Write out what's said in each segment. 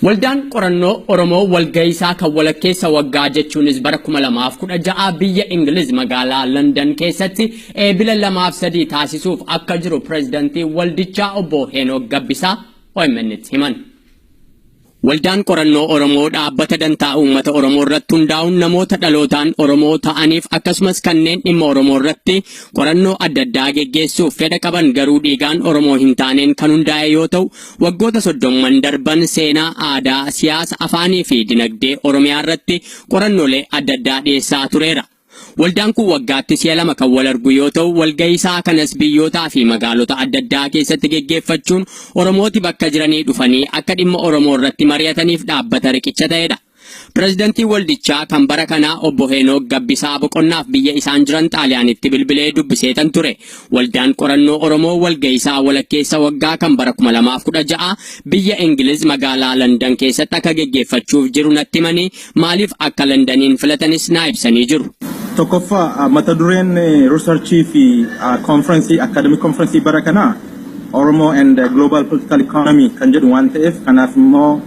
Waldaan qorannoo Oromoo walga'iisaa kan walakkeessa waggaa jechuunis bara 2016 biyya Ingiliz magaalaa London keessatti eebila 2 fi 3 taasisuuf akka jiru pireezidantii waldichaa obbo Heenok Gabbisaa OMN'tti himan. Waldaan qorannoo Oromoo dhaabbata dantaa uummata Oromoo irratti hundaa'uun namoota dhalootaan Oromoo ta'aniif akkasumas kanneen dhimma Oromoo irratti qorannoo adda addaa geggeessuuf fedha qaban garuu dhiigaan Oromoo hin taaneen kan hundaa'e yoo ta'u, waggoota soddomman darban seenaa, aadaa, siyaasa, afaanii fi dinagdee Oromiyaa irratti qorannoolee adda addaa dhiyeessaa tureera. Waldaan kun waggaatti si'a lama kan wal argu yoo ta'u, walgahii isaa kanas biyyootaa fi magaalota adda addaa keessatti geggeeffachuun Oromooti bakka jiranii dhufanii akka dhimma Oromoo irratti mari'ataniif dhaabbata riqicha ta'edha. Pirezidantiin waldichaa kan bara kanaa obbo Heenook Gabbisaa boqonnaaf biyya isaan jiran Xaaliyaanitti bilbilee dubbiseetan ture. Waldaan Qorannoo Oromoo walga'iisaa walakkeessa waggaa kan bara 2016 biyya Ingiliz magaalaa Landan keessatti akka geggeeffachuuf jiru natti himanii maaliif akka Landaniin filatanis naa ibsanii jiru. Tokkoffaa mata dureen riisarchii fi konfirensii akkaadamik konfirensii bara kanaa Oromo and Global Political Economy kan jedhu waan ta'eef kanaaf immoo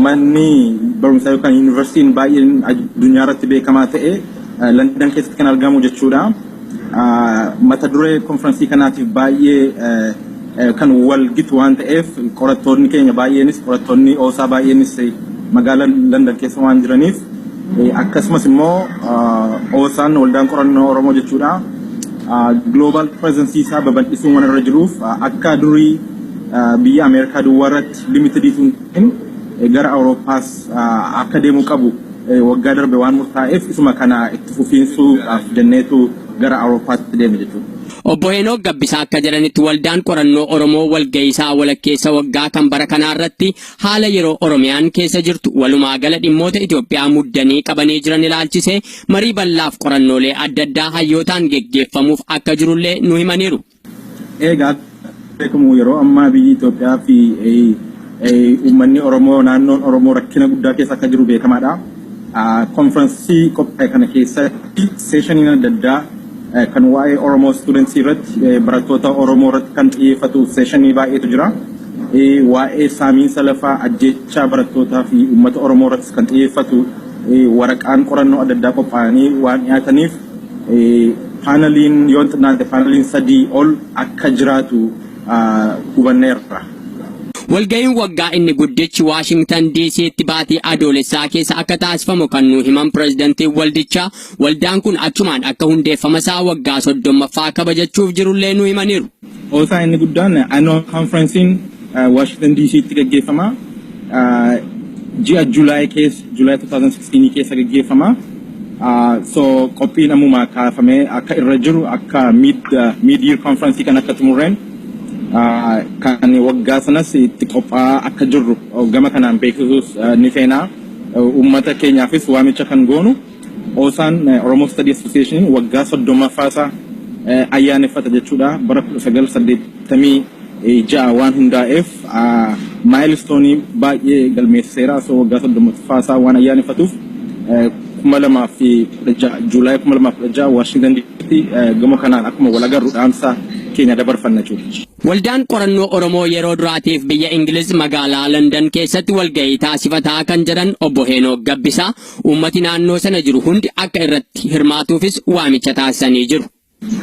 Manni barumsaa yookaan yuunivarsiitiin baay'een addunyaa irratti beekamaa ta'e Landan keessatti kan argamu jechuudha. Mata duree konfiraansii kanaatiif baay'ee kan wal gitu waan ta'eef qorattoonni keenya baay'eenis qorattoonni oosaa baay'eenis magaalaa Landan keessa waan jiraniif akkasumas immoo oosaan waldaan qorannoo Oromoo jechuudha. Global presence isaa babal'isuun waan irra jiruuf akka durii biyya Ameerikaa duwwaa irratti limited utuu hin ta'in eh, gara Awurooppaas ah, akka deemuu qabu eh, waggaa darbe waan murtaa'eef isuma kana itti fufiinsuudhaaf jenneetu gara Awurooppaatti deeme jechuudha. Obbo Heenook Gabbisaa akka jedhanitti waldaan qorannoo Oromoo walga'iisaa walakkeessa waggaa kan bara kanaa irratti haala yeroo Oromiyaan keessa jirtu walumaa gala dhimmoota Itoophiyaa muddanii qabanii jiran ilaalchisee marii bal'aaf qorannoolee adda addaa hayyootaan geggeeffamuuf akka jirullee nu himaniiru. Eegaa beekamu yeroo ammaa biyyi Itoophiyaa fi uummanni Oromoo naannoon Oromoo rakkina guddaa keessa akka jiru beekamaadha. Konfiransii qophaa'e kana keessatti seeshaniin adda addaa kan waa'ee Oromoo stuudentsii irratti barattoota Oromoo irratti kan xiyyeeffatu seeshinii baay'eetu jira. Waa'ee saamiinsa lafaa ajjechaa barattootaa fi uummata Oromoo irratti kan xiyyeeffatu waraqaan qorannoo adda addaa qophaa'anii waan dhiyaataniif paanaliin yoo hin xinnaate paanaliin sadii ol akka jiraatu hubanneerra. Walga'iin waggaa inni guddichi Waashingtan DC'tti baatii Adoolessaa keessa akka taasifamu kan nuu himan pirezidantiin waldichaa, waldaan kun achumaan akka hundeeffamasaa waggaa 30ffaa kabajachuuf jirullee nuu himaniiru. Qoosaa inni guddaan Annual Conference'n Washington DC'tti gaggeeffama. Ji'a July keessa, July 2016 keessa gaggeeffama. So qophiin ammuma kaafamee akka irra jiru akka mid mid year conference kan akka xumurreen kan waggaa sanas itti qophaa'aa akka jirru gama kanaan beeksisuus ni feena. Uummata keenyaafis waamicha kan goonu. Osaan Oromo Study Association waggaa 30ffaa isaa ayyaaneffata jechuudha. Bara 1986 waan hundaa'eef maayilistoonii baay'ee galmeessiseera. So waggaa 30ffaa isaa waan ayyaaneffatuuf 2016 Juulaay 2016 Waashingtan Diisitti gama kanaan akkuma wal agarru dhaamsa keenya dabarfanna jechuudha. Waldaan Qorannoo Oromoo yeroo duraatiif biyya Ingiliz magaalaa London keessatti walgahii taasifataa kan jedhan Obbo Heenook Gabbisaa, Uummati naannoo sana jiru hundi akka irratti hirmaatuufis waamicha taasisanii jiru.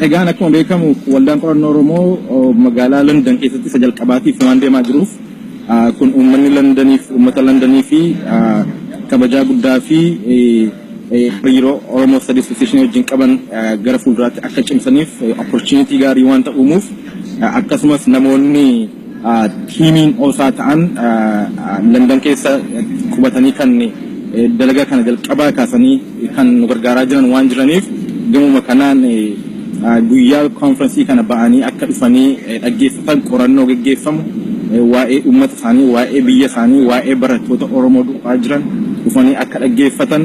Egaan akkuma beekamu Waldaan Qorannoo Oromoo magaalaa London keessatti isa jalqabaatiif waan deemaa jiruuf kun uummanni Londoniif uummata Londoniifi kabajaa guddaafi hariiroo Oromo Study Association wajjin qaban gara fuulduraatti akka cimsaniif opportunity gaarii waanta uumuuf akkasumas namoonni tiimiin osaa ta'an London keessa qubatanii kan dalagaa kana jalqabaa kaasanii kan nu gargaaraa jiran waan jiraniif gamuma kanaan guyyaa konfirensii kana ba'anii akka dhufanii dhaggeeffatan qorannoo geggeeffamu waa'ee uummata isaanii, waa'ee biyya isaanii, waa'ee barattoota Oromoo du'aa jiran dhufanii akka dhaggeeffatan,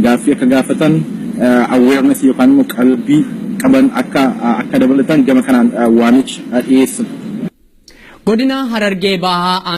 gaaffii akka gaafatan, awareness yookaan immoo qalbii qaban akka akka dabalatan gama kanaan waamicha dhiyeessina. Godina Harargee Bahaa.